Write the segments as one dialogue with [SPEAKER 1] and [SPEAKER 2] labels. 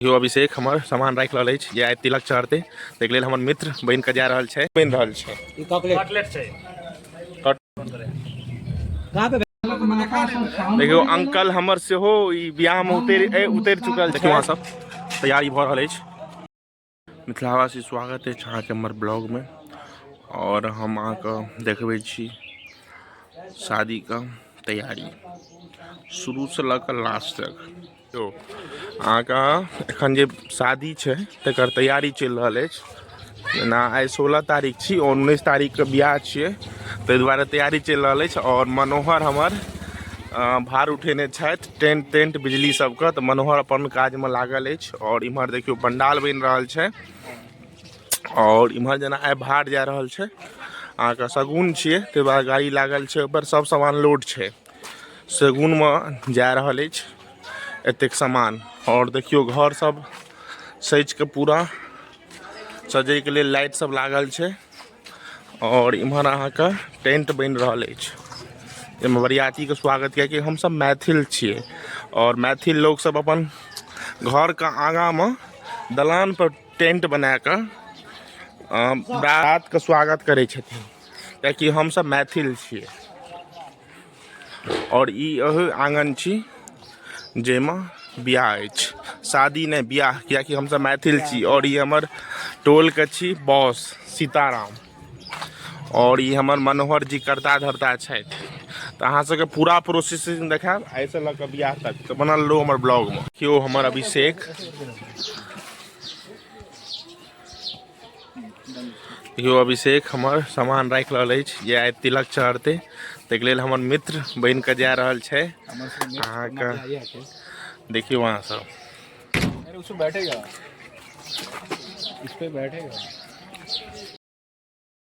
[SPEAKER 1] यो अभिषेक हमर सामान राखि रहल अछि जे आइ तिलक चढ़तै ताहिके लेल हमर मित्र बनि कऽ जा रहल छै बनि रहल छै ई कॉकलेट छै देखियौ अंकल हमर सेहो ई बियाहमे उतरि उतरि चुकल देखियौ अहाँ सब तैयारी भऽ रहल अछि मिथिलावासी स्वागत अछि अहाँके हमर ब्लॉगमे आओर हम अहाँके देखबै छी शादीके तैयारी शुरूसँ लऽ कऽ लास्ट तक देखियौ अहाँके एखन जे शादी छै तकर तैयारी चलि रहल अछि जेना आइ सोलह तारीख छी आओर उन्नैस तारीखके बियाह छियै ताहि दुआरे तैयारी चलि रहल अछि आओर मनोहर हमर भार उठेने छथि टेंट टेंट बिजली सबके तऽ मनोहर अपन काजमे लागल अछि आओर इम्हर देखियौ पंडाल बनि रहल छै आओर इम्हर जेना आइ भार जा रहल छै अहाँके शगुन छियै ताहि दुआरे गाड़ी लागल छै ओहिपर सब सामान लोड छै सेगुनमे जा रहल अछि एतेक सामान आओर देखियौ घर सब सजि कऽ पूरा सजैके लेल लाइट सब लागल छै आओर इम्हर अहाँके टेंट बनि रहल अछि एहिमे बरियातीके स्वागत किएकि हमसब मैथिल छियै आओर मैथिल लोक सब अपन घरके आगाँमे दलान पर टेंट बना कऽ अ, बारातके स्वागत करै छथिन किएकि हमसब मैथिल छियै आओर ई एहो आङ्गन छी जाहिमे बियाह अछि शादी नहि बियाह किएकि हमसभ मैथिल छी आओर ई हमर टोलके छी बॉस सीताराम आओर ई हमर मनोहर जी करता धरता छथि तऽ अहाँ सबके पूरा प्रोसेसिंग देखायब एहिसँ लऽ कऽ बियाह तक तऽ बनल रहू हमर ब्लॉगमे केओ हमर अभिषेक देखियौ अभिषेक हमर सामान राखि रहल अछि जे आइ तिलक चढ़तै ताहिके लेल हमर मित्र बनि कऽ जा रहल छै अहाँके देखियौ अहाँ सब बैठेगा इस पे बैठेगा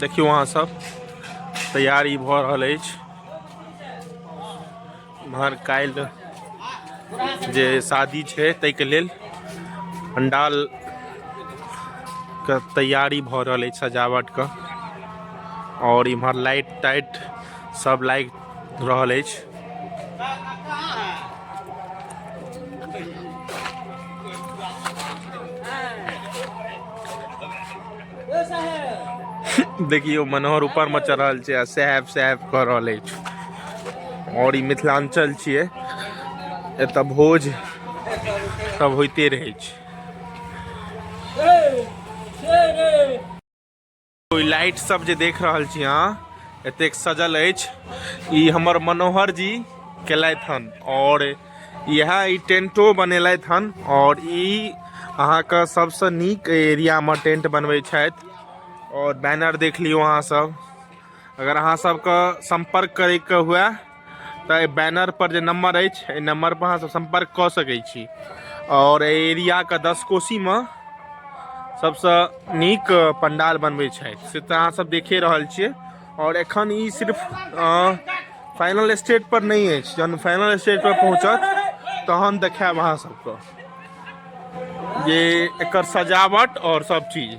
[SPEAKER 1] देखियौ अहाँ सब तैयारी भऽ रहल अछि एम्हर काल्हि जे शादी छै ताहिके लेल पंडाल के तैयारी भऽ रहल अछि सजावट के आओर इम्हर लाइट ताइट सब लाइट रहल अछि देखियौ मनोहर ऊपर में चढ़ल छै आ साहेब साहेब कह रहल अछि और ई मिथिलांचल छियै एतऽ भोज सब होइते रहै छै कोई लाइट सब जे देख रहल छी अहाँ एतेक सजल अछि ई हमर मनोहर जी केलथि हन आओर इएह ई टेंटो बनेलथि हन आओर ई अहाँके सबसँ नीक एरियामे टेंट बनबै छथि आओर बैनर देख लियौ अहाँ सब अगर अहाँ सबके संपर्क करैके हुए तऽ बैनर पर जे नंबर अछि एहि नंबर पर अहाँ सब संपर्क कऽ सकैत छी और एरिया के दस कोसी में सबसे नीक पंडाल बनबे छथि से तऽ अहाँ सब देखे रहल छियै और एखन ई सिर्फ फाइनल स्टेज पर नहि अछि जहन फाइनल स्टेज पर पहुँचत तहन देखायब अहाँ सबके जे एकर सजावट और सब चीज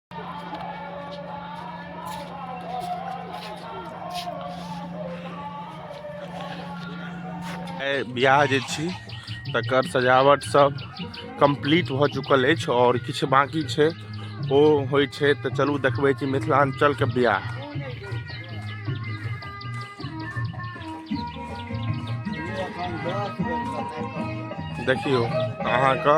[SPEAKER 1] बियाह जे छी तकर सजावट सब कम्प्लीट भऽ चुकल अछि आओर किछु बाँकी छै ओ होइ छै तऽ चलू देखबै छी मिथिलाञ्चलके बियाह देखियौ अहाँके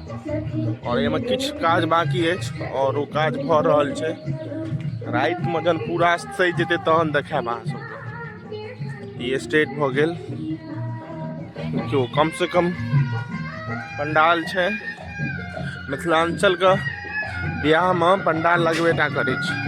[SPEAKER 1] आओर एहिमे किछु काज बाकी अछि आओर ओ काज भऽ रहल छै रातिमे जहन पूरा सजि जेतै तहन देखायब अहाँ सभके ई स्टेट भऽ गेल देखियौ कमसँ कम पंडाल छै मिथिलाञ्चलके बियाहमे पंडाल लगबे टा करै छै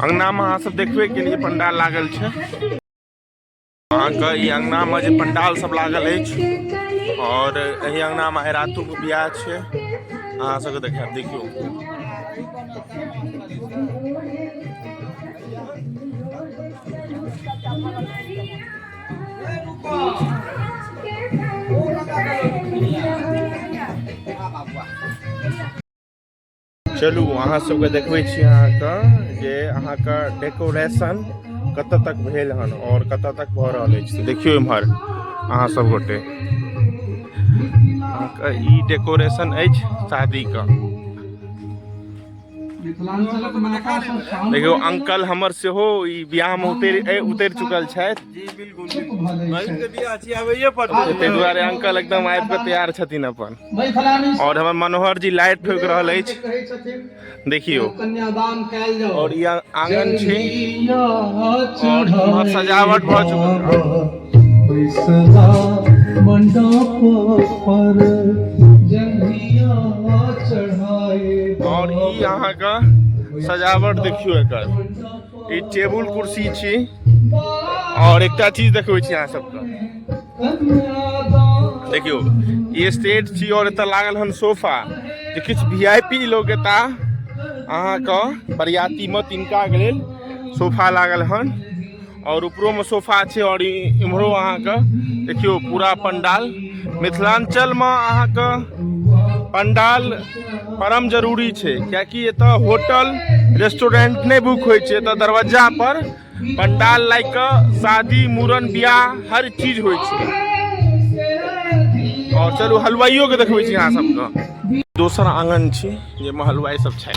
[SPEAKER 1] अंगनामे अहाँ सब देखबे के लिए पंडाल लागल छै अहाँके ई अंगनामे जे पंडाल सब लागल अछि और एहि अंगनामे आइ रातोके बियाह छै अहाँ सबके देखायब देखियौ चलू अहाँ सबके देखबै छी अहाँके जे अहाँके डेकोरेशन कतऽ तक भेल हन और कतऽ तक भऽ रहल अछि देखियौ इम्हर अहाँ सब गोटे अहाँके ई डेकोरेशन अछि शादीके देखियौ अंकल हमर सेहो ई बियाह में उतरि उतरि चुकल छथि ताहि दुआरे अंकल एकदम आबि कऽ तैयार छथिन अपन आओर हमर मनोहर जी लाइट ठोकि रहल अछि देखियौ आओर ई आंगन छै सजावट भऽ चुकल बैसला मंडप पर जंगिया चढ़ाए और ई यहाँ का सजावट देखियो एकर ई टेबुल कुर्सी छी और एकटा चीज देखबै छी अहाँ सबके देखियो ई स्टेज छी और एतऽ लागल हन सोफा जे किछु वी आई पी लोग एता अहाँके बरियातीमे तिनका लेल सोफा लागल हन और ऊपरो में सोफा छे और इम्हरो अहाँ के देखियो पूरा पंडाल मिथिलांचल में अहाँ के पंडाल परम जरूरी छे क्या कि ये तो होटल रेस्टोरेंट नहीं बुक हो छे तो दरवाजा पर पंडाल लाइक शादी मूरन ब्याह हर चीज हो छे और चलो हलवाइयों के देखबे छी अहाँ सबके दोसर आंगन छी जे में हलवाई सब छै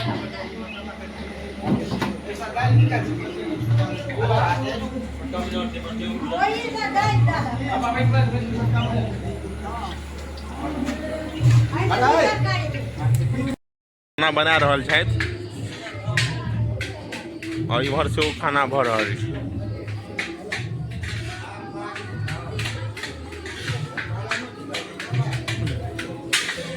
[SPEAKER 1] खाना बना रहल छथि आओर इम्हर से ओ खाना भऽ रहल छै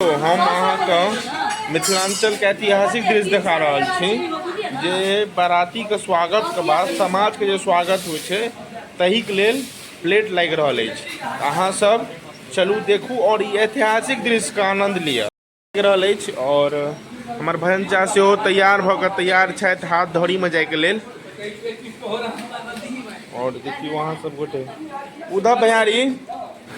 [SPEAKER 1] तो हम अहाँके मिथिलाञ्चलके ऐतिहासिक दृश्य देखा रहल छी जे बारातीके स्वागतके बाद समाजके जे स्वागत होइ छै तहिक लेल प्लेट लागि रहल अछि अहाँसभ चलू देखू आओर ई ऐतिहासिक दृश्यके आनन्द लिअ लागि रहल अछि आओर हमर भजन चा सेहो तैयार भऽ कऽ तैयार छथि हाथ धौड़ीमे जाइके लेल आओर देखियौ अहाँ सब गोटे उधर भैयारी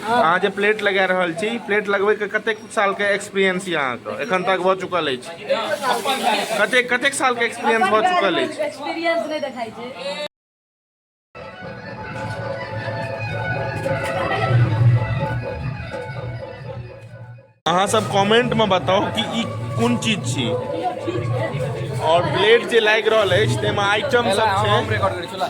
[SPEAKER 1] अहाँ जे प्लेट लगा रहल छी प्लेट लगबै के कतेक साल के एक्सपीरियंस यऽ अहाँ के एखन तक भऽ चुकल अछि कतेक कतेक साल के एक्सपीरियंस भऽ चुकल अछि एक्सपीरियंस नहि देखाइ छै अहाँ सब कमेंट में बताओ कि ई कोन चीज छी और प्लेट जे लागि रहल अछि ताहिमे आइटम सब छै